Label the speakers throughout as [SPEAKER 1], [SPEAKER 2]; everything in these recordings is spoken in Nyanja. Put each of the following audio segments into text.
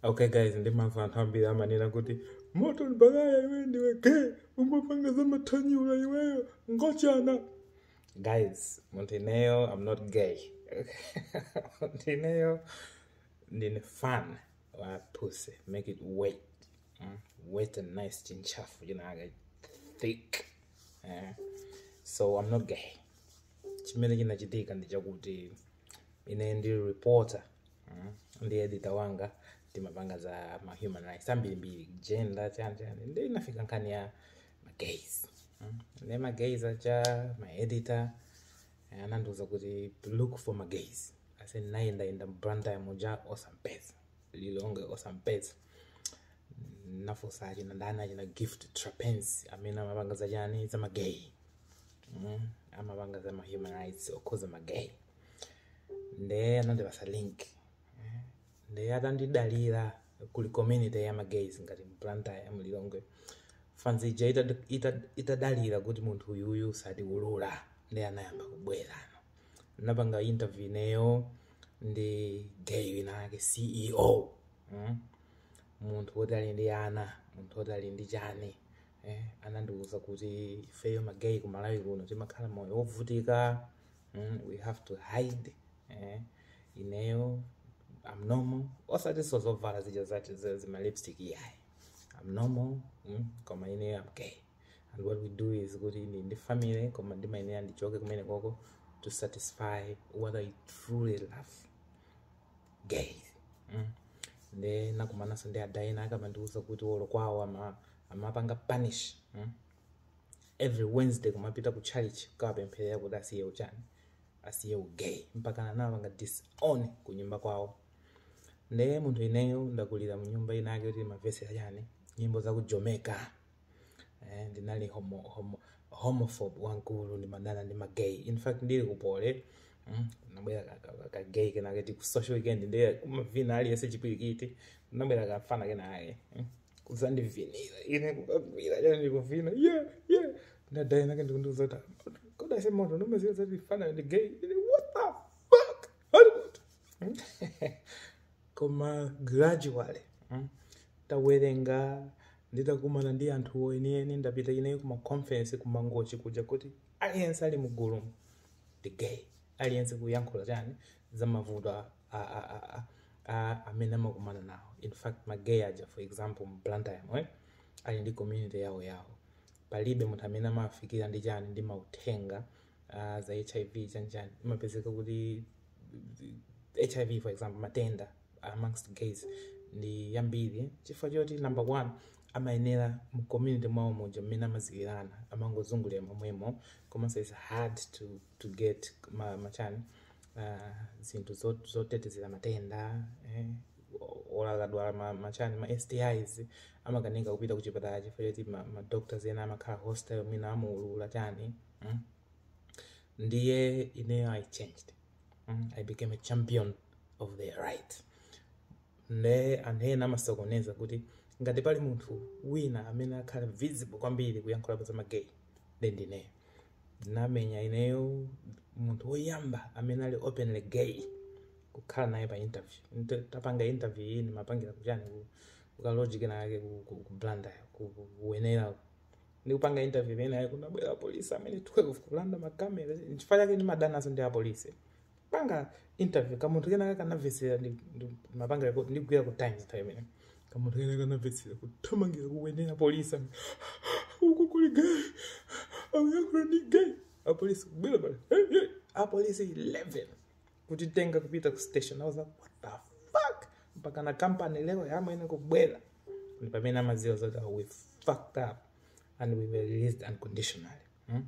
[SPEAKER 1] okay guys ndimamva anthu ambiri amanena kuti moto mbakaya iwe ndiwe gay umapanga za mathanyula iweyo ngochana guys munthu ineyo i'm not gay munthu ineyo ndine fan wa pussy make it wait mm? wait and nice chintchafu chinakake thick eh? so i'm not gay chimene chinachitika ndi chakuti ine ndi reporter Mm. ndi editor wanga timapanga za ma human rights ambirimbiri gender chani chani ndi inafika nkhani ya magays mm. ndi magays nde editor eh, anandiuza kuti to look for magays ase nayendayenda m'Blantyre muja osampeza Lilongwe osampeza nafunsa achina ndani achina gift trapence amene amapanga za chani za magay mm. amapanga za ma human rights okhudza magay nde anandipatsa link Eh, nde atandidalira kuli community ya magays ngati m'Blantyre m'Lilongwe fanzi ija itad- itad- itadalira kuti munthu uyuyu satiulula nde anayamba kubwera no napanga interview ineyo ndi gay wina ake ceo mm? munthu woti ali ndi ana munthu woti ali ndi chani eh, anandiuza kuti ifeyo magay ku malawi kuno timakhala moyo wovutika mm, we have to hide eh, ineyo am normal osatinso zovala zija zati za- zima lipstick yayi am normal mm, koma ineyo am gay and what we do is kuti ndili ndi family koma ndimayenera ndichoke kumene koko to satisfy what i truly love gay mm. nde nakumananso ndi adai ena akamandiuza kuti olo kwawo ama- amapanga punish mm. every wednesday kumapita ku church kukawapempherera kuti asiye uchani asiye ugay mpakana anapanga disown ku nyumba kwawo ndiye munthu ineyo ndakulira mu nyumba inake kuti mavesera chani nyimbo za ku jamaica eh, ndinali homo, homo, homophobe wankulu ndimadana ndi magay in fact ndili ku Poly mm, nabwera ka- ka- ka- kagay kenake ku social weekend ndiye kumavina aliyense chipwirikiti nabwera kafana kenake mm. kudzandivinira ine kukagwira chani ndikuvina ye ye nde dai inake ndikundiuza kuti kodi ase moto ukudziwa zati fana ndi gay ine what the fuck oh Lord koma gradually mm, tawerenga nditakumana ndi anthu oenieni ndapita ineyo kumaconference kumangochi kuja kuti aliyense ali mu gulumu ndi gay aliyense kuyankhula chani za mavuto a, a, a, a, a, a amene amakumana nawo in fact ma gay aja for example mu blantyre mu ali ndi community yawo yawo palibe munthu amene amawafikira ndi chani ndi mauthenga uh, za hiv chanjani imapezeka kuti hiv for example matenda amongst gays ndi ambiri chifukwa choti number one amayendera mu community mwawo muja mmene amaziwirana amangozungulira momwemo komanso its hard to to get ma machani ah, zinthu zot- zotetezera matenda eh, olo akadwala ma, machani ma stis amakanika kupita ku chipatala chifukwa choti ma, ma doctors ena amakhala hostile mwina amaulula chani mm? ndiye ineyo i changed mm? i became a champion of their rights nde anthu ena amasokoneza kuti ngati pali munthu wina amene akhala visible kwambiri kuyankhulapo za magay then ndineyo ndinamuika ineyo munthu woyamba amene ali openly gay kukhala naye pa interview Nte- ndikupanga interview iyi ndimapangira kuchani ku- kukaloji kenake ku- ku- ku blantyre ku- ku- ku wenela ndikupanga interview penapake kunabwera apolisi amwene 12 kulanda makamera nchifukwa chake ndimadanaso ndi apolisi panga interview kamunthu kenaka kanamvetsera ndi- ndi- mapanga record ndigwira ku times time imene kamunthu kenaka kanamvetsera kuthamangira ku wenela polisi amvekere uku kuli gay akuyankhula ndi gay apolisi kubwera paja "Hey, hey." apolisi 11 kutitenga kupita ku station i was like what the fuck mpaka na company lawyer amwene kubwera ndi pamene amaziwa zoti "Oh, we fucked up and we were released unconditionally mm?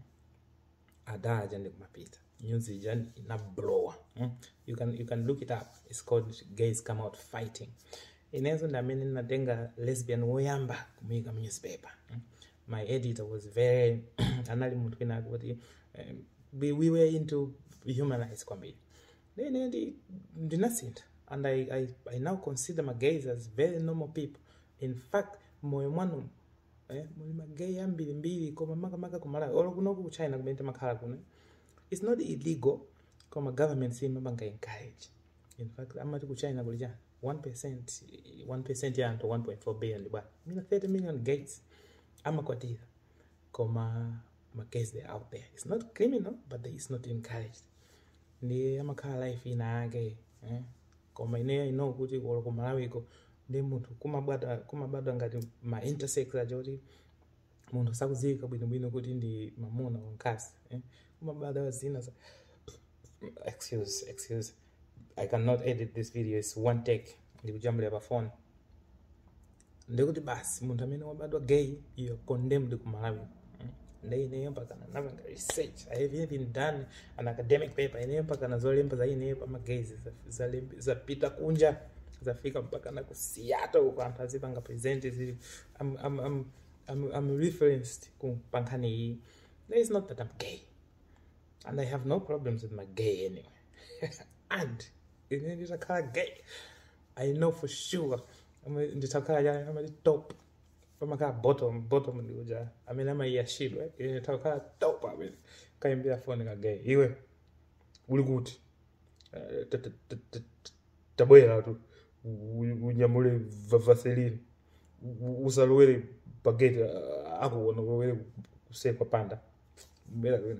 [SPEAKER 1] ada aja ndikumapita news ija inablowa mm? you, can, you can look it up its called gays come out fighting inenso ndi amene ndinatenga lesbian woyamba kumuyika mu newspaper mm? my editor was very anali munthu wina akuti um, we, we were into human rights kwambiri then ndi ndinasintha and I, I, i now consider ma gays as very normal people in fact moyo mwanu eh, muli magay ambirimbiri koma makamaka kumalawi olo kunoku ku china kumene timakhala kuno its not illegal koma government simapanga encourage in fact amati ku china kuli chani 1% 1% ya anthu 1.4 billion bwana mina 30 million gays amakwatira koma magays they are out there it's not criminal but they, it's not encouraged ndi amakhala life ina yake eh? koma ineyo i know kuti olo ku malawiko ndi munthu kumabwata kumabadwa ngati ma intersex aja kuti munthu sakudziwika bwinobwino kuti ndi mamuna or nkazi eh? kumabadwa zina za excuse excuse i cannot edit this video its one take ndikujambulira pa phone ndikuti basi munthu amene wabadwa gay you are condemned ku malawi Mm. nde ineyo mpaka napanga research i have even done an academic paper ineyo mpaka na zolemba za ineyo pa magays zalembe- zapita kunja zafika mpaka na ku seattle uko anthu azipanga present zili I'm, I'm, I'm, I'm, I'm referenced ku pankhani iyi there is not that i'm gay and i have no problems with my gay anyway and ine nditakhala gay i know for sure Ama- nditakhala chani amati top amakhala bottom bottom ndikuja amene amayashidwa ine nditakhala top amene kayimbira foni kagayi iwe uli kuti Eh, ta- ta- ta- ta- ta- tabwera tu U- unyamule va- vaseline U- usalowere pageti akuona ulowere kuseri kwa mpanda bwera kwene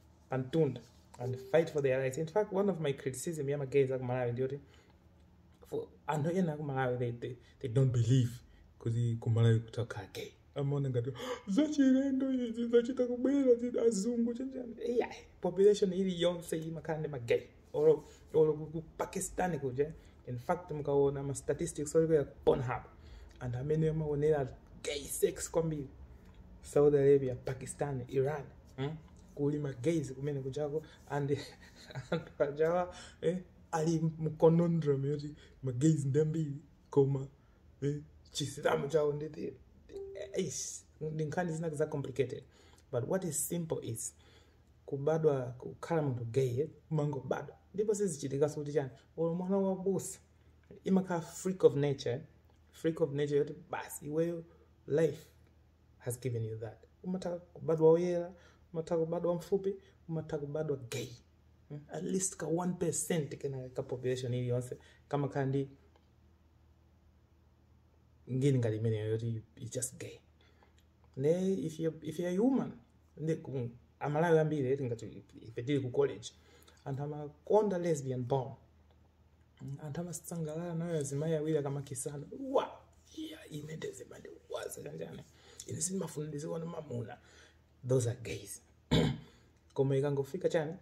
[SPEAKER 1] pamtunda and fight for their rights in fact one of my criticism ya magays akumalawi ndiyoti for anthu ena akumalawi they, they, they don't believe kuti kumalawi kutakhala gay amaona ngati zachilendo izi zachita kubwera zi- azungu chenjani yeah, population ili yonse imakhala ndi magay or, or ku pakistan kuja in fact mukaona ma statistics olo kuja ku pornhub anthu amene amaonera gay sex kwambiri saudi arabia pakistan iran mm? kuli ma gays kumene kujako and anthu ajawa eh, ali mconondrum yoti ma gays ndi ambiri koma eh, chisilamu chawo ndiye eish, ndi nkhani zina za complicated but what is simple is kubadwa kukhala munthu gay umangobadwa ndipo sizichitikanso kuti chani olo mwana wa abusa imakhala freak of nature freak of nature yoti basi iweyo life has given you that umatha kubadwa oyera umatha kubadwa mfupi umatha kubadwa gay Mm, at least ka 1 percent ka population iliyonse kamakhala ndi ngini ngati imeneyo yoti you- you just gay ne if you if you are human ne ku- amalawi ambiri eti ngati ife tili ku college anthu amakonda lesbian porn anthu amasangalala nayo azimayi awiri akamakisana wa iya ine ndezima ndiwaza kanjani ine sindimafunsilidwa ndi mamuna those are gays koma ikangofika chani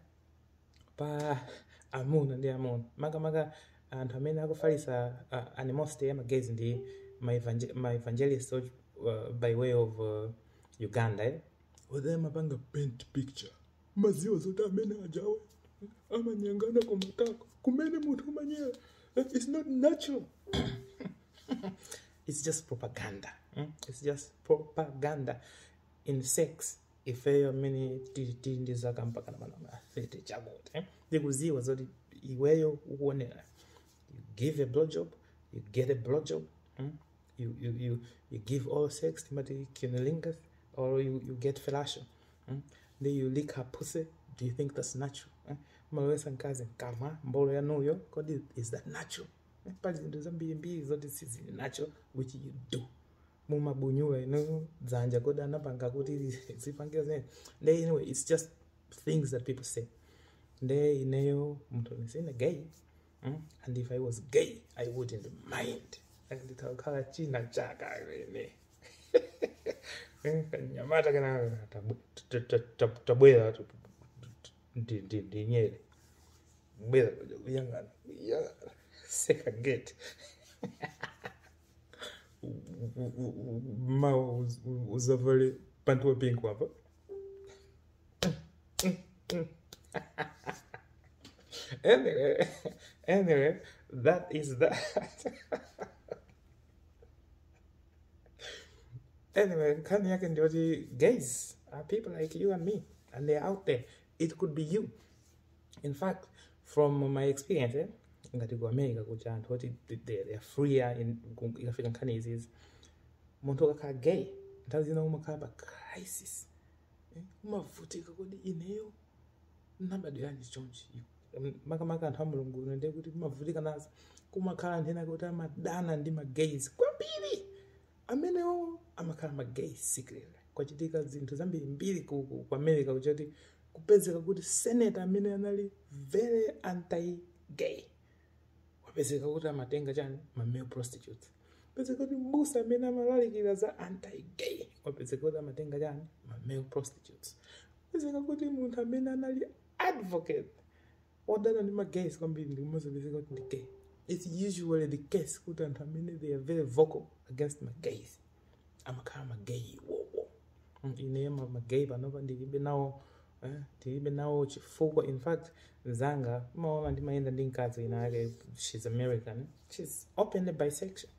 [SPEAKER 1] pa amuna ndi amuna makamaka anthu amene akufalitsa uh, animosity ya magays ndi ma evangel- ma evangelist uh, by way of uh, uganda eh? Whether amapanga paint picture mmaziwa zoti amene ajawe amanyangana kumatako kumene munthu amanyera Eh, it's not natural it's just propaganda mm? it's just propaganda in sex ifeyo amene tili tili ndi zaka mpaka na manamba 30 chakuti eh, ndikudziwa zoti iweyo ukuonera you give a blowjob you get a blowjob mm? you, you, you, you give oral sex timati cunnilingus or you, you get fellatio mm? then you lick her pussy do you think that's natural eh? mumalowetsa mkazi mkamwa mbolo yanuyo kodi is that natural eh? pali zinthu zambirimbiri zoti sizili natural which you do mumabunyula inuyo dzanja kodi anapanga kuti muzipangira zimene nde anyway it's just things that people say nde ineyo munthu ndisine gay mm? and if i was gay i wouldn't mind Like, ndikakhala china chaka ine nyamata kana tabwe- ta- ta- ta- tabwera tu- ndi- ndi- ndi nyere bwera kuyang'ana kuyang'ana seka gate mawa uzavale pantu wapingu apa anyway anyway that is that anyway nkhani yake ndiyoti guys are people like you and me and they're out there it could be you in fact from my experience eh, ngati ku america kuja anthu oti they- they are freer in- ku- ikafika nkhani izizi munthu ukakhala gay nthawi zina umakhala pa crisis eh, umavutika kodi ineyo ndinabadiranji chonchi Mm, makamaka anthu a mulungu uno ndiye kuti umavutika nazo kumakhala anthu ena kuti amadana ndi magays kwambiri amenewo amakhala magay secretly kwachitika zinthu zambirimbiri ku, ku, ku america kuchoti kupezeka kuti senator amene anali very anti gay wapezeka kuti amatenga chani ma male prostitutes kupezeka kuti mbusa amene amalalikira za anti gay wapezeka kuti amatenga chani ma male prostitutes kupezeka kuti munthu amene anali advocate odana ndi ma gays kwambiri ndikumadzapezeka kuti ndi gay its usually the case kuti anthu amene they are very vocal against ma gays amakhala ma gay iwowo Mm, ine ma ma gay panopa ndilibe nawo eh, ndilibe nawo chifukwa in fact mzanga umaona ndimayenda ndi mkazi ina yake she's american she's openly bisexual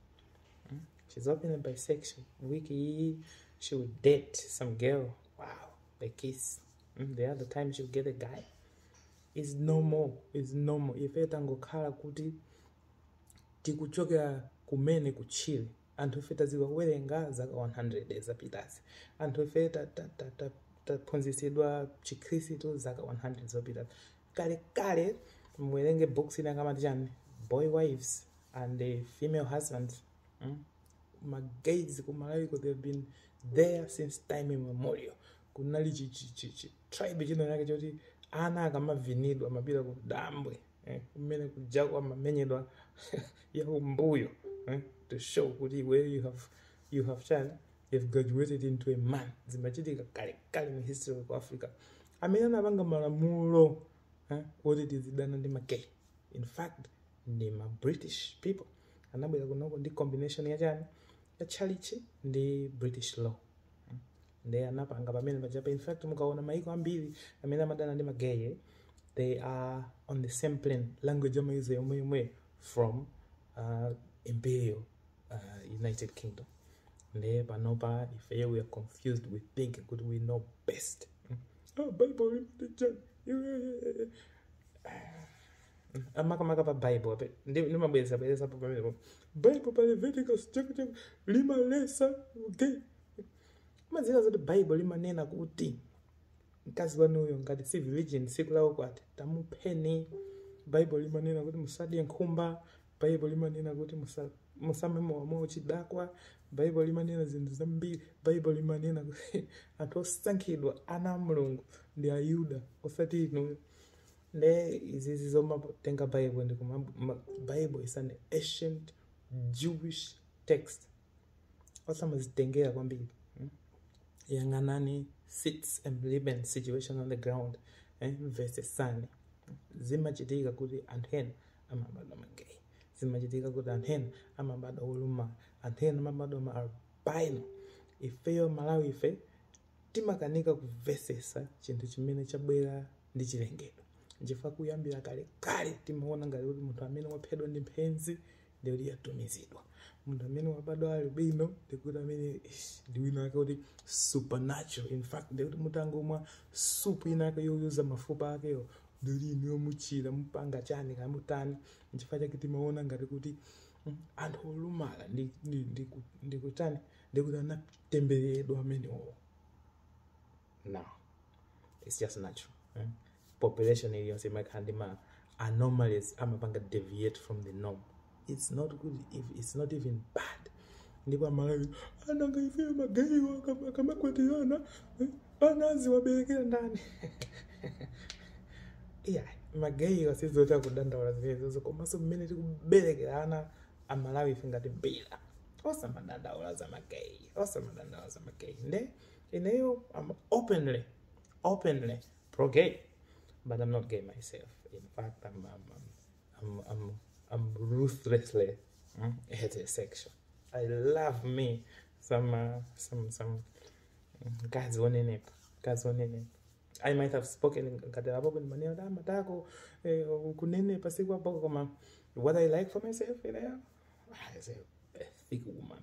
[SPEAKER 1] She's openly bisexual. Wiki, she would date some girl. Wow, they kiss. Mm, the other time she'll get a guy it's normal it's normal ife tangokhala kuti tikuchokera kumene kutchire anthu ife tadziwa kuwerenga zaka 100 zapitazi anthu ife ta- ta- ta- ta- taphunzitsidwa chikhristu zaka 100 zapitazi kalekale muwerenge book ina yake amati chani boy wives and the female husbands mm? magays kumalawiko they've been there since time immemorial kunali chi, chi, chi, chi, tribe china chake choti ana akamavinidwa amapita ku dambwe eh, kumene kujako amamenyedwa ya kumbuyo eh, to show kuti where you have you have chani you have graduated into a man zimachitika kale kale mu history of africa amene anapanga malamulo eh, oti tizidana ndi magay in fact ndi ma british people anabwera kunoko ndi combination ya chani ya tchalitchi ndi british law nde anapanga pamene pajapo in fact mukaona maiko ambiri amene amadana ndi magay they are on the same plane language amayuza yomweyomweyo from uh, imperial uh, united kingdom nde panopa ifeyo we are confused we think kuti we know best Mm. oh, bible limati chani? Iwe- amakamaka pa bible apa ndi- ndimabwereza bwerezapo pamenepo bible pa leviticus chapter limaletsa okay Mumadziwa zoti Bible limanena kuti mkazi wanuyo ngati si virgin tsiku la ukwati tamupheni. Bible limanena kuti musadye nkhumba. Bible limanena kuti musa- musamwe mowa mwa uchidakwa. Bible limanena zinthu zambiri. Bible limanena kuti anthu osankhidwa ana a Mulungu ndi Ayuda osati inuyo. Nde izizi zomatenga Bible ndi kuma ma- Bible is an ancient Jewish text. osamazitengera kwambiri mm? yang'anani situation living situation on the ground eh? mvetsetsani zimachitika kuti anthu ena amabadwa magay zimachitika kuti anthu ena amabadwa olumala anthu ena amabadwa ma albino ifeyo malawi ife timakanika kumvetsetsa chinthu chimene chabwera ndi chilengedwe nchifukwa kuyambira kale kale timaona ngati kuti munthu amene waphedwa ndi mphenzi ndiye kuti yatumizidwa munthu amene wabadwa albino ndiye kuti amene ish, ndi wina ake kuti supernatural in fact ndiye kuti mutangomwa supu ina ake yoyuza mafupa akewo ndiye kuti inuyo muchira mupanga chani kaya mutani nchifukwa chake timaona ngati kuti mm, anthu olumala ndi- ndi- ndi- ndikutani ndiye kuti anatembereredwa amenewo no it's just natural eh? population iliyonse imakhala ndi ma anomalies amapanga deviate from the norm it's not good it's not even bad ndipo amalawi anzanga ife magayiwo akam- akamakwatirana eh, ana aziwaberekera ndani iya magayiwo sizoti akudandaula zimenezozo komanso mmene tikuberekera ana amalawi ife ngati mbira osamadandaula za magayi osamadandaula za magayi nde Ineyo, I'm openly, openly pro gay, but I'm not gay myself. In fact, I'm, I'm, I'm, I'm, I'm ruthlessly mm, heterosexual. I love me some, uh, some, some mm, guys one in it, guys one in it. I might have spoken ngatera apo kuti maneno da matako eh, kunene pasiku apo koma what I like for myself you know, I say a thick woman